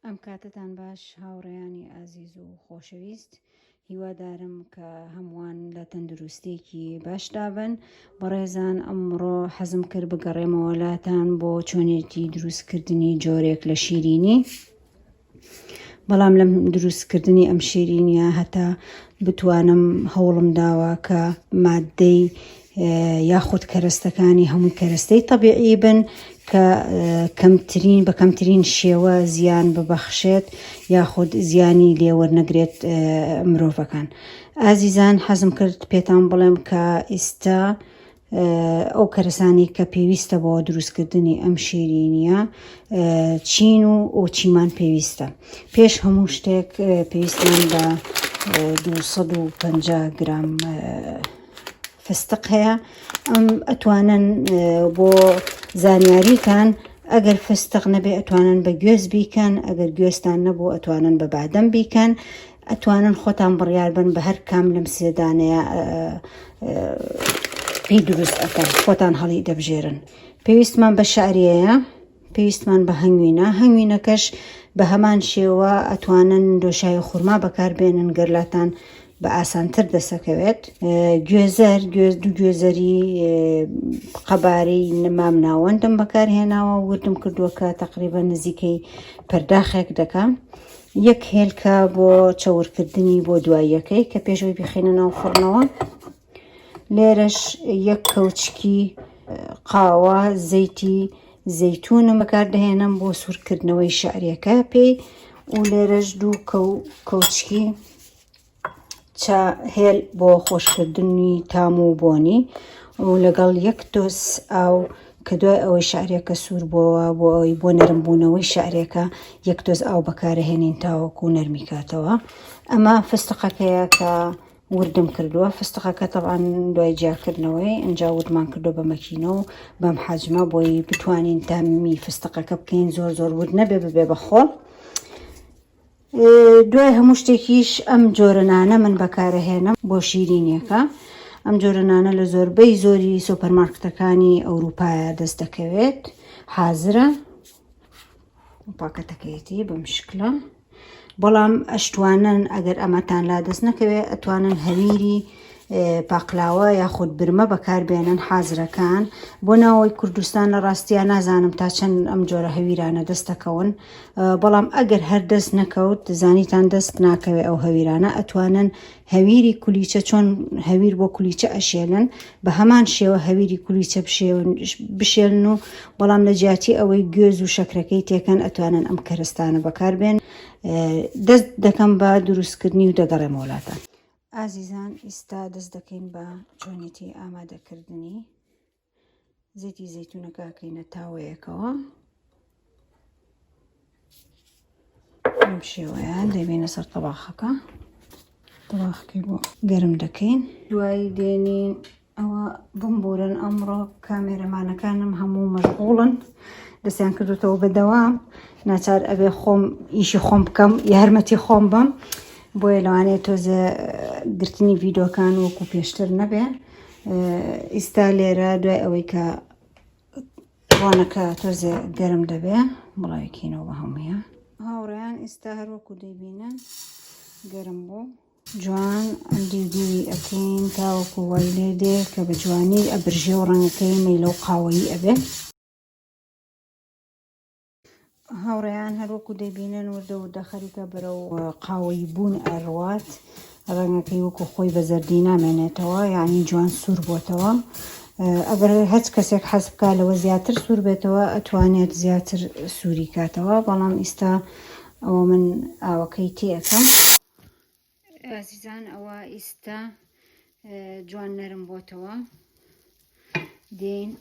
ئەم کاتتان باش هاوڕێیانی ئازیز و خۆشەویست هیوادارم کە هەمووان لە تەندروستێکی باشدابن بەڕێزان ئەمڕۆ حەزم کرد بگەڕێمەوەلاتان بۆ چۆنێتی دروستکردنی جۆرێک لە شیرینی بەڵام لەم دروستکردنی ئەم شیرینە هەتا بتوانم هەوڵم داوە کە مادەی یاخود کەرەستەکانی هەمووی کەرەستەی تەبیعی بن کە کەمترین بە کەمترین شێوە زیان ببەخشێت یاخود زیانی لێوەرنەگرێت مرۆڤەکان ئازیزان حەزم کرد پێتان بڵێم کە ئیستا ئەو کەرەسانی کە پێویستە بۆ دروستکردنی ئەم شیرینیە چین و ئۆچیمان پێویستە پێش هەموو شتێک پێویستمان بە 250 گرام فستق هەیە ئەم ئەتوانن بۆ زانیاریتان ئەگەر فستق نەبێ ئەتوانن بە گوێز بیکەن ئەگەر گوێستان نەبوو ئەتوانن بە بادەم بیکەن ئەتوانن خۆتان بڕیار بن بە هەر کام لەم سێدانەیە پێی دروست ئەکەن خۆتان هەڵی دەبژێرن پێویستمان بە شاریەیە پێویستمان بە هەنگوینە، هەنگوینەکەش بە هەمان شێوە ئەتوانن دۆشاوی خورما بەکاربێنن گەر لاتان بە ئاسانتر دەسەکەوێت گوێزەر گوێز دوو گوێزەری قەبارەی نمام ناوەندم بەکارهێناوە وردم کردووە کە تقریبا نزیکەی پەرداخێک دەکەم یەک هێلکە بۆ چەورکردنی بۆ دواییەکەی کە پێشەوەی بخینە ناو فڕنەوە لێرەش یەک کەوچکی قاوە زەیتی زەیتونم بەکاردەهێنم بۆ سوورکردنەوەی شعرەکە پێی و لێرەش دوو کەوچکی چا هێل بۆ خۆشکردنی تام و بۆنی و لەگەڵ یەک تۆس ئاو کە دوای ئەوەی شعرەکە سوور بۆەوە بۆ ئەوی بۆ نەرمبوونەوەی شعرەکە یەک تۆز ئاو بەکارەهێنین تاوەکو نەرمی کاتەوە ئەمە فستقەکەیە کە وردم کردوە فستقەکە تەبعەن دوای جیاکردنەوەی ئەنجا وردمان کردو بە مەکینە و بەم حەجمە بۆی بتوانین تامی فستقەکە بکەین زۆر زۆر ورد نەبێ ببێ بە خۆڵ دوای هەموو شتێکیش ئەم جۆرەنانە من بەکارەهێنم بۆ شیرینیەکە ئەم جۆرەنانە لە زۆربەی زۆری سۆپەرمارکتەکانی ئەوروپایە دەست دەکەوێت حازرە پاکەتەکەیەتی بەم شکلە بەڵام ئەشتوانن ئەگەر ئەمەتان لا دەست نەکەوێت ئەتوانن هەویری پاقلاوە یاخود برمە بەکاربێنن حازرەکان بۆ ناوەی کوردستان لە ڕاستیان نازانم تا چەند ئەم جۆرە هەویرانە دەستەکەون بەڵام ئەگەر هەر دەست نەکەوت زانیتان دەست ناکەوێت ئەو هەویرانە ئەتوانن هەویری کولیچە چۆن هەویر بۆ کولیچە ئەشێلن بە هەمان شێوە هەویری کولیچە بشێلن و بەڵام لە جیاتی ئەوەی گوێز و شەکرەکەی تێکەن ئەتوانن ئەم کەرستانە بەکاربێن دەست دەکەم بە دروستکردنی و دەگەڕێم وڵاتان ئازیزان ئیستا دەست دەکەین بە چۆنێتی ئامادەکردنی زیتی زەتونەکەکەینە تاوەیەکەوە ئەم شێوەیە دەبینە سەر تەباخەکە تەباخەکەی بۆ گەرم دەکەین دوایی دێنین ئەوە بمبورن ئەمڕۆ کامێرەمانەکانم هەموو مەشغوڵن دەستیان کردوتەوە بەدەوام ناچار ئەبێ خۆم ئیشی خۆم بکەم یارمەتی خۆم بم بۆیە لەوانەیە تۆزێ گرتنی ڤیدۆکان وەکو پێشتر نەبێ ئیستا لێرە دوای ئەوەی کە ڕۆنەکە تۆزێ گەرم دەبێ بڵاوکینەوە بە هەمویە هاوڕێیان ئیستا هەروەکو دەبینن گەرم بوو جوان دیودیوی ئەکەین تاوەکو وای لێ دێ کە بە جوانی ئەبرژێ و ڕەنگەکەی مەیلە و قاوەیی ئەبێ هاوڕێیان هەروەکو دەبینن وردە وردە خەریکە بەرەو قاوەی بوون ئەڕوات ڕەنگەکەی وەکو خۆی بە زەردی نامێنێتەوە یعنی جوان سوور بۆتەوە ئەگەر هەچ کەسێک حەز بکە لەوە زیاتر سوور بێتەوە ئەتوانێت زیاتر سووری کاتەوە بەڵام ئیستا ئەوە من ئاوەکەی تێەکەم ئازیزان ئەوە ئیستا جوان نەرم بۆتەوە دێن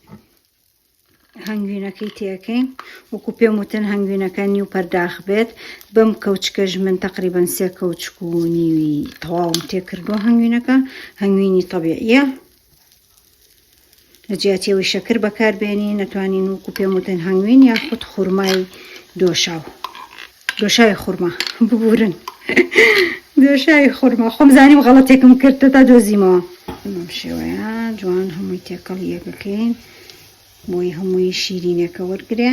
هەنگوینەکەی تێەکەین وەکو پێم وتن هەنگوینەکە نیو پەرداخ بێت بەم کەوچکەش من تقریبان سێ کەوچک و نیوی تەواوم تێکردوە هەنگوینەکە هەنگوینی طبیعە لە جیاتی ئەوەی شەکر بەکاربێنی نەتوانین وکو پێم وتن هەنگوین یاخود خورمای دۆشاو دۆشاوی خورما ببورن دۆشاوی خورما خۆم زانیم غەڵەتێکم کرد تا دۆزیمەوە شێوەیە جوان هەمووی تێکەڵ یەکەکەین بۆی هەمووی شیرینەکە وەرگێ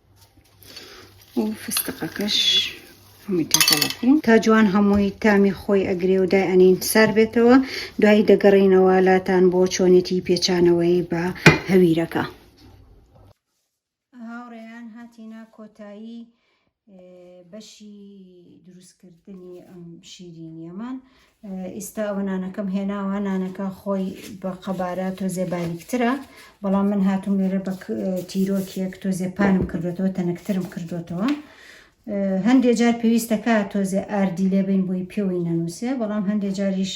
و فستقەکەش هەمووی تێکەڵەکەین تا جوان هەمووی تامی خۆی ئەگرێ و دای ئەنین سەر بێتەوە دوایی دەگەڕینەوە لاتان بۆ چۆنێتی پێچانەوەی بە هەویرەکە هاوڕێیان هاتینا کۆتایی بەشی دروستکردنی ئەم شیرینیەمان ئیستا ئەوە نانەکەم هێناوە نانەکە خۆی بە قەبارە تۆزێ باریکترە بەڵام من هاتوم لێرە بە تیرۆکێک تۆزێ پانم کردوێتەوە تەنکترم کردوێتەوە هەندێ جار پێویستەکە تۆزێ ئاردی لێبین بۆی پێوەی نەنووسێ بەڵام هەندێ جاریش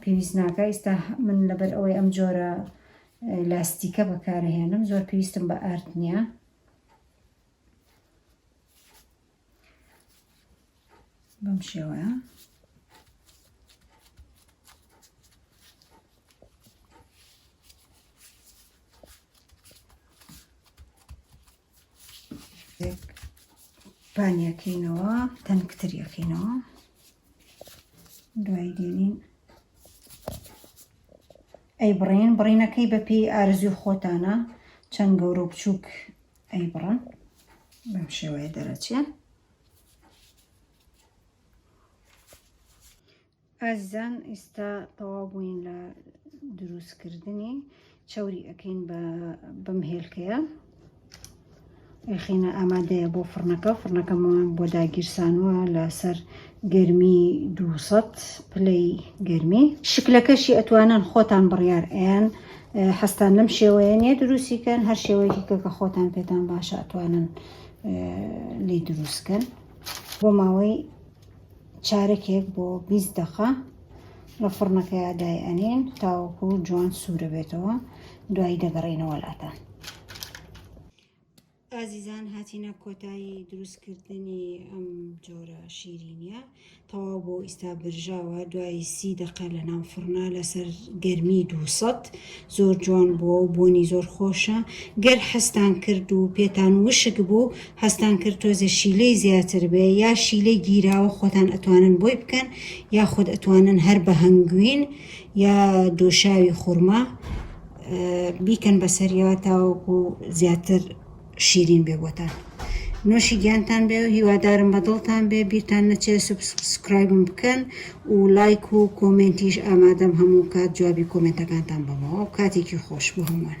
پێویست ناکە ئیستا من لەبەر ئەوەی ئەم جۆرە لاستیکە بەکارهێنم زۆر پێویستم بە ئارد نییە بەم شێوەیە پانیەکەینەوە تەنکتریەکەینەوە دوای دێنین ئەی بڕین بڕینەکەی بەپی ئارزوی خۆتانە چەند گەورە و بچووک ئەیبڕن بەم شێوەیە دەرەچێ. ئازیزان ئیستا تەواو بووین لە دروستکردنی چەوری ئەەکەین بە بەم هێلکەیە ئەخینە ئامادەیە بۆ فڕنەکە فڕنەکەمان بۆ داگیرسانوە لەسەر گەرمی دوو سەد پلەی گەرمی شکلەکەشی ئەتوانن خۆتان بڕیار ئەیان حەستان لەم شێوەیە نیە دروستیکەن هەر شێوەیەکی کە کە خۆتان پێتان باشە ئەتوانن لی دروستکەن بۆ ماوەی چارەکێک بۆ 20 دقە لە فڕنەکە یادای ئەنین تاوەکو جوان سوورە بێتەوە دوایی دەگەڕینەوە لاتان ئازیزان هاتینە کۆتایی دروست کردنی ئەم جۆرە شیرینیە تەواو بۆ ئیستا برژاوە دوای سی دقە لە ناو فڕنا لەسەر گەرمی دووسەد زۆر جوان بووە و بۆنی زۆر خۆشە گەر حەستان کرد و پێتان وشک بوو حەستان کرد تۆزێ شیلەی زیاتر بێ یا شیلەی گیراوە خۆتان ئەتوانن بۆی بکەن یا خۆت ئەتوانن هەر بە هەنگوین یا دۆشاوی خورما بیکەن بەسەریەوە تاوەکو زیاتر شیرین بێ بۆتان نۆشی گیانتان بێ و هیوادارم بە دڵتان بێ بیرتان نەچێ سوبسکرایبم بکەن و لایک و کۆمنتیش ئامادەم هەموو کات جوابی کۆمنتەکانتان بەمەوە کاتێکی خۆش بۆ هەمووان